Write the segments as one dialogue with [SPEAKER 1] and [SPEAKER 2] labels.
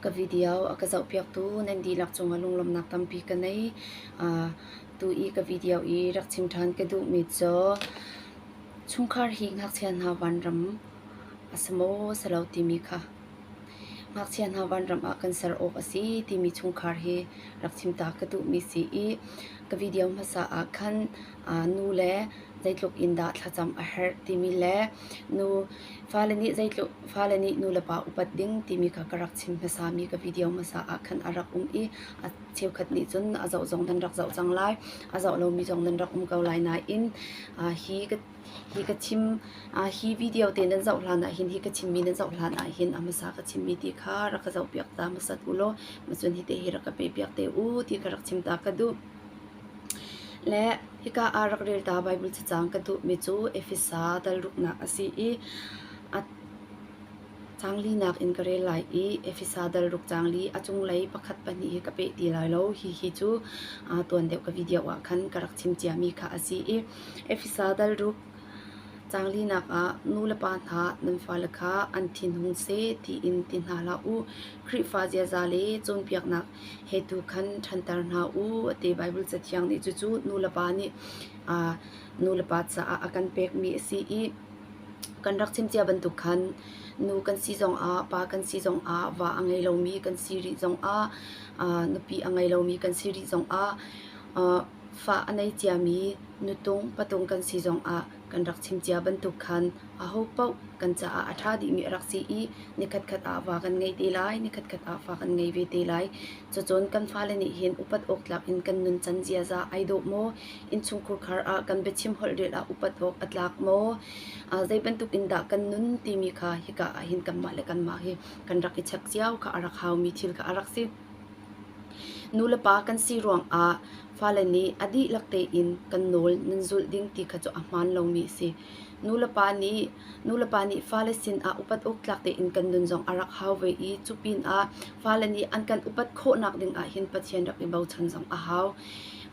[SPEAKER 1] Ka video a ka zohpiaktu nan dihlak cungah lunglawmhnak tampi ka ngei. Tu i ka video i rak chim ṭhan ka duhmi cu chungkhar hi ngakchia hna vanram a si maw si lo timi kha. Ngakchia hna vanram ah kan ser awk a si timi chungkhar hi rak chim ta ka duhmi si i ka video hmasa ah khan nu le zeitluk in dah thlacam a herh timi le nu fale nih zeitluk fale nih nulepa upat ding timi kha ka rak chim hmasami ka video hmasa ah khan a rak um i a cheukhat nih cun a zoh zong nan rak zoh cang lai a zoh lomi zong nan rak um ko lai nain uh, hi ka hi ka chim uh, hi video te nan zoh hlan ahhin hi ka chimmi nan zoh hlan ahhin a hmasa ka chimmi ti kha rak ka zoh piak ta hmasat u law macun hi te hi rak ka pe piak te u ti ka rak chim ta ka duh Le hika ah rak rel ta Baibal cacang ka duhmi cu Efesa dal-ruknak a si i a caang linak in ka rel lai i Efesa dal-ruk caang li a cunglei pakhat pahnih hi ka peh ti lai lo. Hihi cu aa tuan deuh ka video ah khan ka rak chim ciami kha a si i Efesa dal-ruk Canglinak ah nu le pa hna nan fale kha an thinhung seh tiin ti hna hlah u. Khrihfa ziaza le cawnpiaknak he tu khan ṭhanter hna u a ti. Baibal Cathiang nih cucu nulepa nih aa nulepa caah a kan pekmi a si i kan rak chim cia bantuk khan nu kan si zongah pa kan si zongah va a ngei lomi kan si rih zongah aa nupi a ngei lomi kan si rih zongah aa fah a nei ciami nutung patung kan si zongah kan rak chim cia bantuk khan aho paoh kan caah a ṭha dihmi a rak si i nikhatkhat ah fa kan ngei te lai nikhatkhat ah fa kan ngei ve te lai. Cacun kan fale nih hin upat awk tlak in kan nun can ziaza ai dawh maw? Innchungkhur khar ah kan biachim holh rel ah upat awk a tlak maw? Uh, zei bantuk in dah kan nun timi kha hika ah hin kanmah le kanmah hi kan rak i chek cio kha a rak haumi thil kha a rak si. Nulepa kan si ruangah fale nih a dihlak tein kan nawl nan zulh ding ti kha cu a hmaan lomi a si. Nulepa nih, nulepa nih fale sinah upat awktlak tein kan nun zong a rak hau ve i cu pinah fale nih an kan upat khawhnak ding ah hin Pathian rak i bochan zong a hau.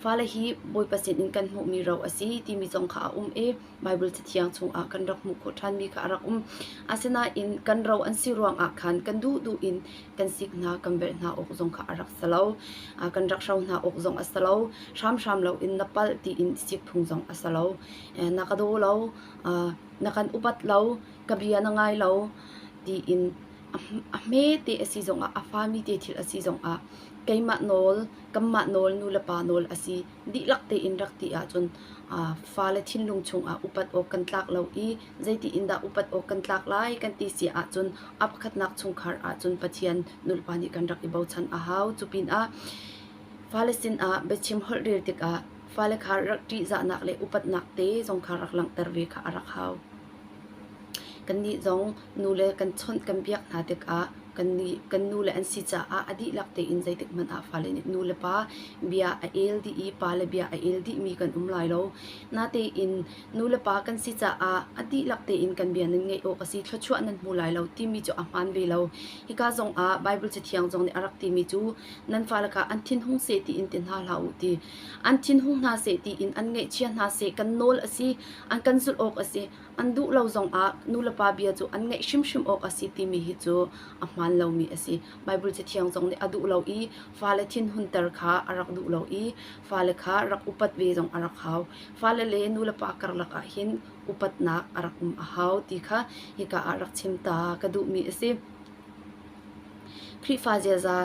[SPEAKER 1] Fale hi Bawipa sinin kan hmuhmi ro a si timi zong kha a um i Baibal Cathiang chungah kan rak hmuh khawh ṭhanmi kha a rak um. Asinain kan ro an si ruangah khan kan duhduh in kan sik hna, kan velh hna awk zong kha a rak si lo. Kan rak hro hna awk zong a si lo. Hramhram loin na palh tiin sik phung zong a si lo. Na ka daw lo, na kan upat lo, ka bia na ngai lo tiin a hme te a si zongah, a fami te thil a si zongah keimah nawl, kanmah nawl, nu le pa nawl a si dihlak tein rak ti ahcun fale thinlung chungah upat awk kan tlak lo i zeiti in dah upat awk kan tlak lai kan ti si ahcun a pakhatnak chungkhar ahcun Pathian nulpa nih kan rak i bochan a hau. Cupinah fale sinah biachim holh rel tikah fale kha rak ṭihzahnak le upatnak te zong kha rak langhter ve kha a rak hau. Kannih zong nule kan chawnh kan biak hna tikah kan nule an si caah a dihlak tein zeitikhmanh ah fale nih nulepa bia a el dih i pale bia a el dihmi kan um lai lo. Natein nulepa kan si caah a dihlak tein kan bia nan ngeih awk a si, thluachuah nan hmu lai lo timi cu a hmaan ve lo. Hika zongah Baibal Cathiang zong nih a rak timi cu nan fa lakah an thinhung seh tiin ti hna hlah u ti an thinhung hna seh tiin an ngeihchia hna seh kan nawl a si an kan zulh awk a si an duh lo zong ah nulepa bia cu an ngaih hrimhrim awk a si timi hi cu a hmaan lomi a si Baibal cathiang zong nih a duh lo i fale thinhunter kha a rak duh lo i fale kha rak upat ve zong a rak hau fale le nulepa karlak ah hin upatnak a rak um a hau ti kha hika ah rak chim ta ka duhmi a si Khrihfa ziaza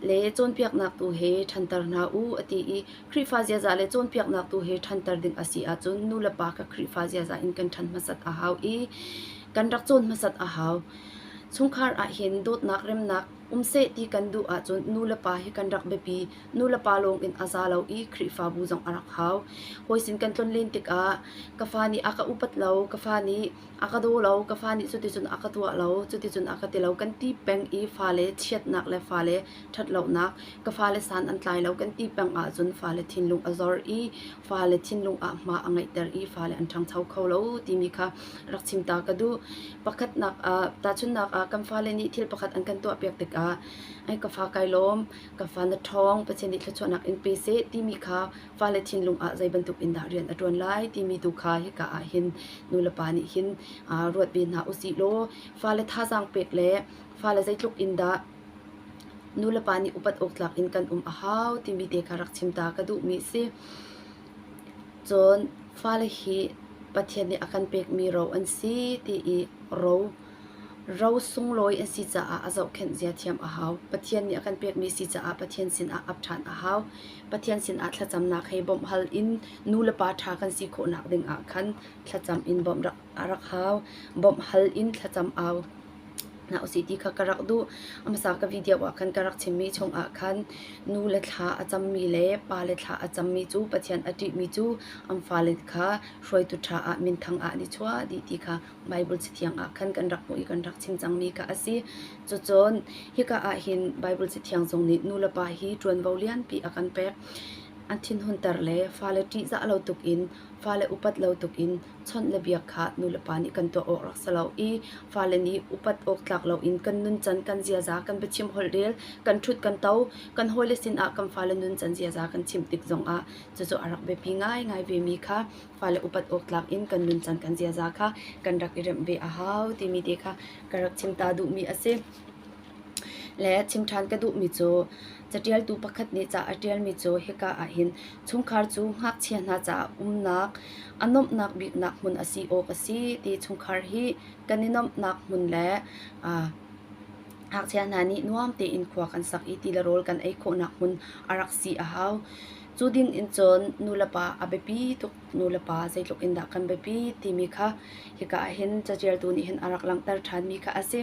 [SPEAKER 1] le cawnpiaknak tu he ṭhanter hna u a ti i Khrihfa ziaza le cawnpiaknak tu he ṭhanter ding a si ahcun nulepa kha Khrihfa ziaza in kan ṭhan hmasat a hau i kan rak cawn hmasat a hau. Chungkhar ahhin dawtnak remnak um seh ti kan duh ahcun nulepa hi kan rak biapi. Nulepa lawng in a za lo i Khrihfabu zong a rak hau. Hawi sin kan tlon len tikah ka fa nih a ka upat lo, ka fa nih A ka daw lo. Ka fa nih cuticun a ka tuah lo. Cuticun a ka ti lo. Kan ti peng i fale chiatnak le fale ṭhatlonak, ka fale san an tlai lo kan ti peng ahcun fale thinlung a zor i fale thinlung ah hma a ngeihter i fale an ṭhangcho kho lo timi kha rak chim ta ka duh. Pakhatnak ah, tahchunhnak ah kan fale nih thil pakhat an kan tuahpiak tikah ai ka fa kai lawm, ka fa na ṭhawng Pathian nih thluachuahnak in pe seh timi kha fale thinlung ah zei bantuk in dah rian a ṭuan lai timi tu kha hika ah hin nulepa nih hin ruat ve hna usih law fale thazaang pek le fale zeitluk in dah nulepa nih upat awktlak in kan um a hau timi te ka rak chim ta ka duhmi si cun fale hi Pathian nih a kan pekmi ro an si ti i ro Ro sunglawi an si caah a zohkhenh zia thiam a hau. Pathian nih a kan pekmi si caah Pathian sinah ap ṭhan a hau. Pathian sinah thlacamnak hei bawmh hal in nu le pa ṭha kan si khawhnak ding ah khan thlacam in bawmh rak a rak hau. Bawmh hal in thlacam au hna usih ti kha ka rak duh. A hmasa ka video ah khan ka rak chimmi chung ah khan nu le thla a cammi le pa le thla a cammi cu Pathian a ṭihmi cu an fale kha hruaitu ṭha ah minthang ah an i chuah dih ti kha Baibal Cathiang ah khan kan rak hmuh i kan rak chim cangmi kha a si. Cucun hika ah hin Baibal Cathiang zong nih nulepa hi ṭuanvo lianpi a kan pek. An thinhunter le fale ṭihzah lo tuk in, fale upat lo tuk in chawnh le biak kha nulepa nih kan tuah awk rak si lo i fale nih upat awktlak loin kan nuncan kan ziaza kan biachim holh rel, kan ṭhut kan to, kan hawile sinah kan fale nuncan ziaza kan chim tik zongah cucu a rak biapi ngaingai vemi kha fale upat awk tlak in kan nuncan kan ziaza kha kan rak i remh ve a hau timi te kha ka rak chim ta duhmi a si. Le chim ṭhan ka duhmi cu caṭialtu pakhat nih ca a ṭialmi cu hika ahhin chungkhar cu ngakchia hna caah umnak a nuamhnak biknak hmun a si awk a si ti chungkhar hi kan i nuamhnak hmun le ngakchia hna nih nuam tein khua kan sak i ti le rawl kan ei khawhnak hmun a rak si a hau. Cu din in cun nulepa a biapi tuk nulepa zeitluk in dah kan biapi timi kha hika ah hin caṭialtu nih hin a rak langhter ṭhanmi kha a si.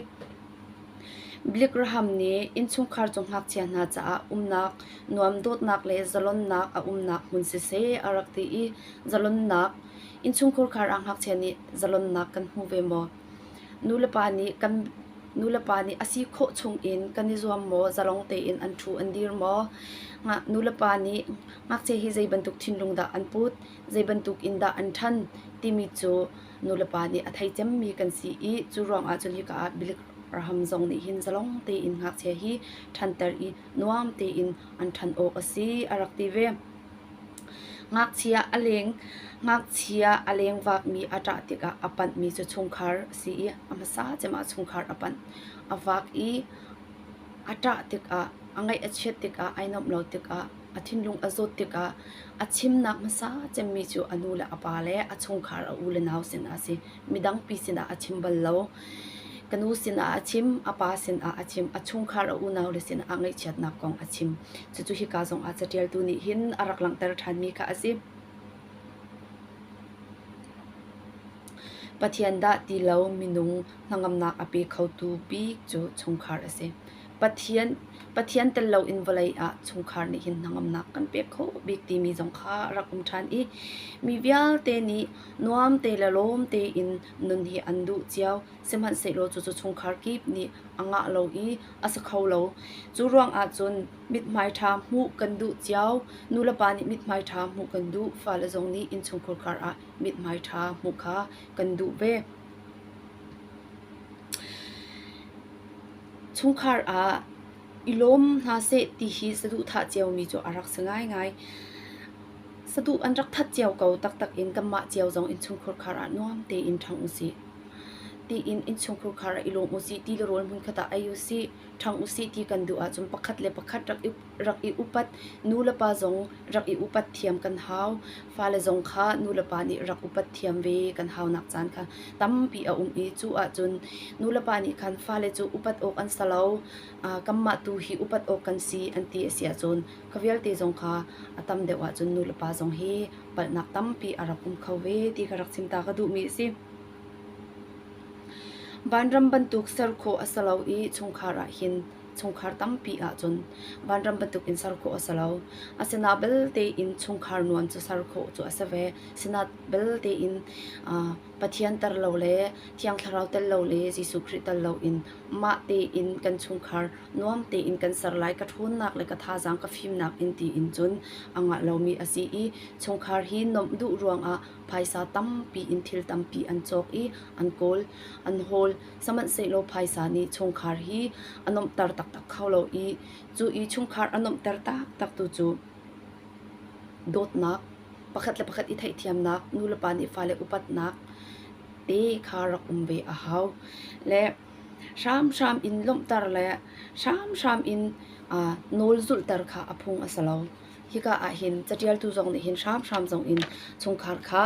[SPEAKER 1] Blikraham nih innchungkhar cu ngakchia hna caah umnak nuam dawtnak le zalonnak a umnak hmun siseh a rak ti i zalonnak innchungkhar kar ah ngakchia nih zalonnak kan hmu ve maw? Nulepa nih a si khawh chungin kan i zuam maw? Zalong tein an ṭhu an dir maw? Nulepa nih ngakchia hi zeibantuk thinlung dah an put, zeibantuk in dah an ṭhan timi cu nulepa nih a thei cemmi kan si i cu ruangah cun hika ah Bilik raham zong nih hin zalong tein ngakchia hi ṭhanter i nuam tein an ṭhan awk a si a rak ti ve. Ngakchia a lengvakmi a ṭah tikah a panhmi cu chungkhar a si i a hmasa cem ah chungkhar a panh. A vak i a ṭah tikah, a ngaih a chiat tikah, ai nuamh lo tikah, a thinlung a zawt tikah a chimnak hmasa cemmi cu a nu le a pa le a chungkhar a u le nau sinah a si. Midangpi sinah a chim bal lo. Ka nu sinah a chim, a pa sinah a chim, a chungkhar a unaule sinah ngaihchiatnak kong a chim. Cucu hika zongah catialtu nih hin a rak langhter ṭhanmi kha a si. Pathian dah ti lo minung hnangamnak a pe khotu bik cu chungkhar a si. Pathian Pathian tel loin vawlei ah chungkhar nih hin hnangamnak kan pek kho bik timi zong kha a rak um ṭhan i mi vialte nih nuam te le lawm tein nun hi an duh cio. Sihmanhsehlaw cucu chungkhar kip nih a ngah lo i a si kho lo. Cu ruangah cun mithmai ṭha hmuh kan duh cio. Nulepa nih mithmai ṭha hmuh kan duh. Fale zong nih innchungkhur karah mithmai ṭha hmuh kha kan duh ve. Chungkhar ah i lawm hna seh ti hi saduhthah cio mi cu a rak si ngaingai. Saduh an rak that cio ko taktak in kanmah cio zong innchungkhur khar ah nuam tein ṭhang usih. Tiin innchungkhur khar ah i lawm usih ti le rawl hmunkhat ah ei usih, ṭhang usih ti kan duh ahcun pakhat le pakhat rak i rak i upat. Nu le pa zong rak i upat thiam kan hau. Fale zong kha nulepa nih rak upat thiam ve kan haunak caan kha tampi a um i cu ahcun nulepa nih khan fale cu upat awk an si lo. Kanmah tu hi upat awk kan si an ti a si ahcun kha vialte zong kha a tam deuh ahcun nulepa zong hi palhnak tampi a rak um kho ve ti ka rak chimta ka duhmi a si. Vanram bantuk ser khawh a si lo i chungkhar ah hin chungkhar tampi ahcun vanram bantukin ser khawh a si lo. Asinain belte in chungkhar nuan cu ser khawh cu a si ve. Asinain belte in Pathian tel lo le Thiang Thlarau tel lo le Jesuh Khrih tel loin mah tein kan chungkhar nuam tein kan ser lai ka ṭhawnnak le ka thazaang ka fimnak in tiin cun a ngah lomi a si i chungkhar hi nuamh duh ruangah phaisa tampi in thil tampi an cawk i an kawl, an hawl. Sihmanhsehlaw phaisa nih chungkhar hi a nuamhter taktak kho lo i cu i chungkhar a nuamhter taktak tu cu dawtnak, pakhat le pakhat i theihthiamnak, nulepa nih fale upatnak te kha rak um ve a hau. Le hramhram in lawmhter le hramhram in uh, nawl zulhter kha a phung a si lo. Hika ah hin catialtu zong nih hin hramhram zong in chungkhar kha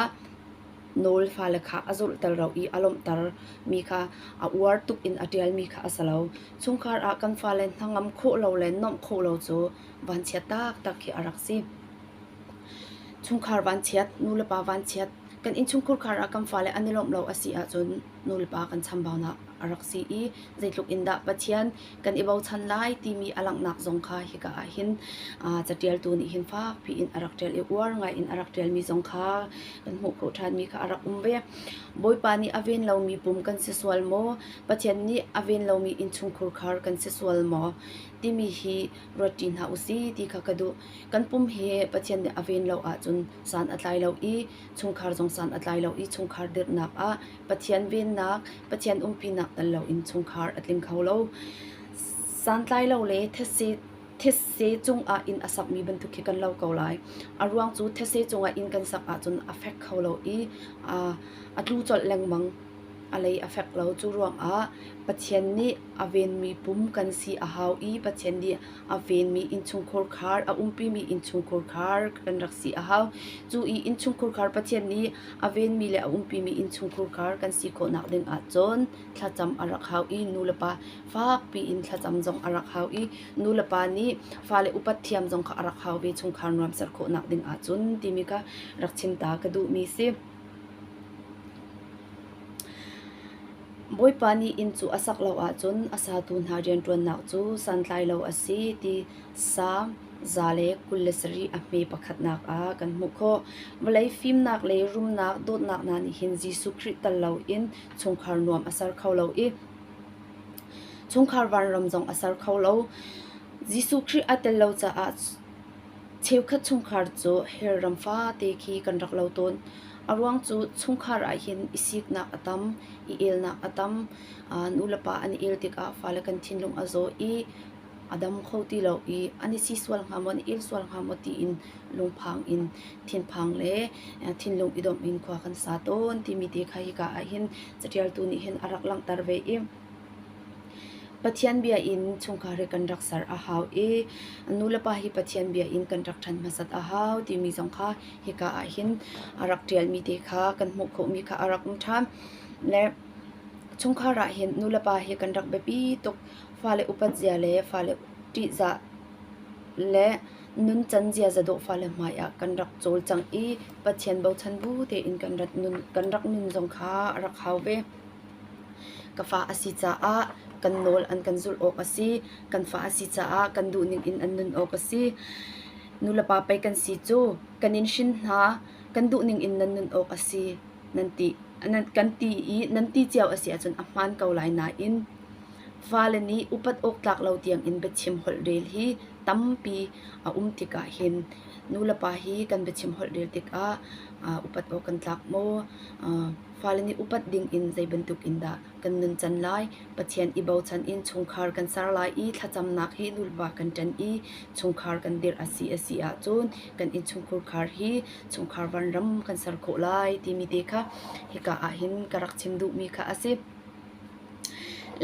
[SPEAKER 1] Nawl fale kha a zulhter lo i a lawmhter mi kha a uar tuk in a ṭialmi kha a si lo. Chungkhar ah kan fale hnangam khawh lo le nuamh khawh lo cu vanchia taktak khi a rak si. Chungkhar vanchiat, nulepa vanchiat, kan innchungkhar kar ah kan fale an i lawmh lo a si ahcun nulepa kan chambaunak a rak si i zeitluk in dah Pathian kan i bochan lai timi a langhnak zong kha hika ah hin catialtu nih hin fakpi in a rak ṭial i uar ngaiin a rak ṭialmi zong kha kan hmuh ko ṭhanmi kha a rak um ve. Bawipa nih a ven lomi pum kan si sual maw? Pathian nih a ven lomi innchungkhur khar kan si sual maw? timi hi ruat ṭi hna u si ti kha ka duh. Kan pum hi Pathian nih a ven lo ahcun san a tlai lo i chungkhar zong san a tlai lo i chungkhar dirhnak ah Pathian vennak, Pathian umpinak tal loin chungkhar a tling kho lo. Santlai lo le thetse thetse cungah in a sakmi bantuk khi kan lo ko lai. A ruang cu thetse cungah in kan sak ahcun a fek kho lo i a, a tlu colh lengmang. A lei a fek lo. Cu ruangah Pathian nih a venmi pum kan si a hau i Pathian nih A venmi innchungkhar khar, a umpimi innchungkhar khar kan rak si a hau. Cu i innchungkhar khar Pathian nih a venmi le a umpimi innchungkhar khar kan si khawhnak ding ahcun thlacam a rak hau i nulepa fak piin thlacam zong a rak hau i nulepa nih fale upat thiam zong kha a rak hau ve chungkhar nuam ser khawhnak ding ahcun timi kha rak chim ta ka duhmi si. Bawipa nih inn cu a sak lo ahcun a satu hna rianṭuannak cu santlai lo a si ti sa, za le kul le sarih a hme pakhatnak ah kan hmuh khawh. Vawlei fimnak le rumnak dawtnak hna nih hin Jesuh Khrih tal loin chungkhar nuam a ser kho lo i chungkhar vanram zong a ser kho lo. Jesuh Khrih a tel lo caah Cheukhat chungkhar cu hell ram fate khi kan rak lo tawn. A ruang cu chungkhar ahhin i siknak a tam, i elnak a tam. Nulepa an i el tikah fale kan thinlung a zaw i a dam kho ti lo i an i si sual hnga maw, an i il sual hnga maw tiin lungphang in, thinphang le thinlung i domh in khua kan sa tawn timi te kha hika ahhin catialtu nih hin a rak langhter ve i Pathian bia in chungkhar hi kan rak ser a hau i an nulepa hi Pathian bia in kan rak ṭhan hmasat a hau timi zong kha hika ah hin a rak ṭialmi te kha kan hmuh khawhmi kha a rak um ṭhan. Le chungkhar ah hin nulepa hi kan rak biapi tuk fale upatzia le fale ṭihzah le nuncan ziaza dawh fale hmai ah kan rak cawlcangh i Pathian bochan bu tein kan rak nun zong kha a rak hau ve. Ka fa a si caah kan nawl an kan zulh awk a si. Kan fa a si caah kan duhning in an nun awk a si. Nulepa pei kan si cu kan in hrin hna, kan duhning in nan nun awk a si, nan ti. Nan, kan ti i nan ti cio a si ahcun a hmaan ko lai nain fale nih upat awk tlak lo tiangin biachim holh rel hi tampi a um tikah hin nulepa hi kan biachim holh rel tikah upat awk kan tlak maw? Fale nih upat ding in zeibantuk in dah kan nun can lai? Pathian i bochan in chungkhar kan ser lai i thlacamnak hi nulpa kan ṭen i chungkhar kan dirh a si a si ahcun kan innchungkhur khar hi chungkhar vanram kan ser khawh lai timi te kha hika ah hin ka rak chim duhmi kha a si.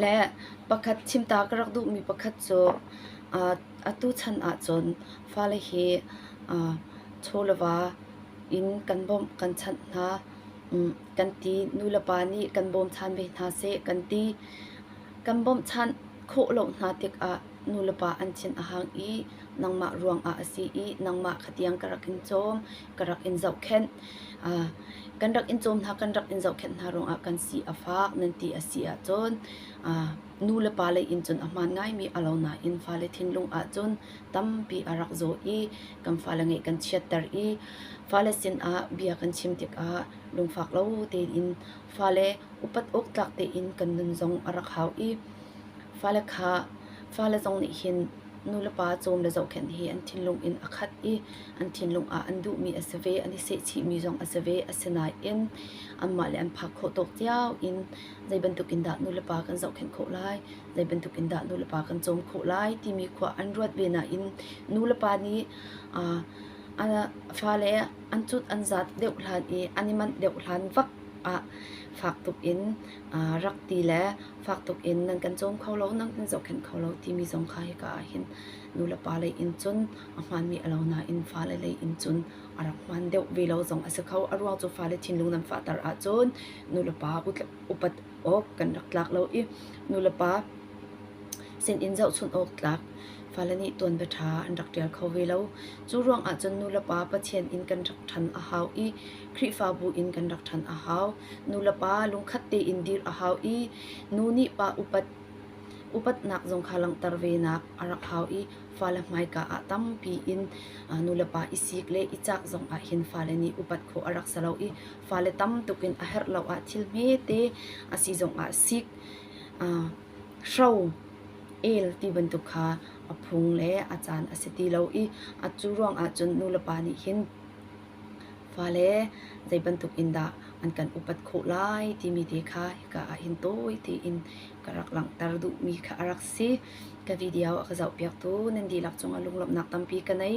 [SPEAKER 1] Le pakhat chimta ka rak duhmi pakhat cu atu chan ahcun fale hi chawleva in kan bawmh kan chanh hna. kan ti. Nu le pa nih kan bawm ṭhan ve hna seh kan ti. Kan bawmh ṭhan khawh lo hna tikah nu le pa an thin a hang i nangmah ruangah a si i nangmah khatiang ka rak in cawm, ka rak in zohkhenh. kan rak in cawm hna, kan rak in zohkhenh hna ruangah kan si a fak nan ti a si ahcun nu le pa lei in cun a hmaan ngaimi a lo nain fale thinlung ahcun tampi a rak zaw i kan fale ngeih kan chiatter i fale sinah bia kan chim tikah lungfak lo tein fale upat awktlak tein kan nun zong a rak hau i fale kha fale zong nih hin nulepa cawm le zohkhenh hi an thinlung in a khat i an thinlung ah an duhmi a si ve an i sehchihmi zong a si ve asinain anmah le an phak khawh tawk cio in zei bantuk in dah nulepa kan zohkhenh khawh lai zei bantuk in dah nulepa kan cawm khawh lai timi khua an ruat ve nain nulepa nih aa an fale an cut an zat deuh hlan i an i manh deuh hlan vak ah fak tuk in aa rak ti le fak tuk in nan kan cawm kho lo nan kan zohkhenh kho lo timi zong kha hika ah hin nulepa lei in cun a hmaanmi a lo nain fale lei in cun a rak hmaan deuh ve lo zong a si kho a ruang cu fale thinlung nan fahter ahcun nulepa upat awk kan rak tlak lo i nulepa sinin zohchunh awk tlak fale nih tuanbia ṭha an rak ṭial kho ve lo. Cu ruang ahcun nulepa Pathian inn kan rak ṭhan a hau i Khrihfabu in kan rak ṭhan a hau. Nulepa lungkhat tein dir a hau i nu nih pa upat upatnak zong kha langhter venak a rak hau i fale hmaika ah tampi in nulepa i sik le i cah zong ah hin fale nih upat khawh a rak si lo i fale tam tuk in a herh lo ah thil hmete a si zong ah sik, hro, el ti bantuk kha a phung le a caan a si ti lo i cu ruang ahcun nulepa nih hin fale zei bantuk in dah an kan upat khawh lai timi te kha hika ah hin tawi tein ka rak langhter duhmi kha a rak si. Ka video a ka zohpiaktu nan dihlak cungah lunglawmhnak tampi ka nei.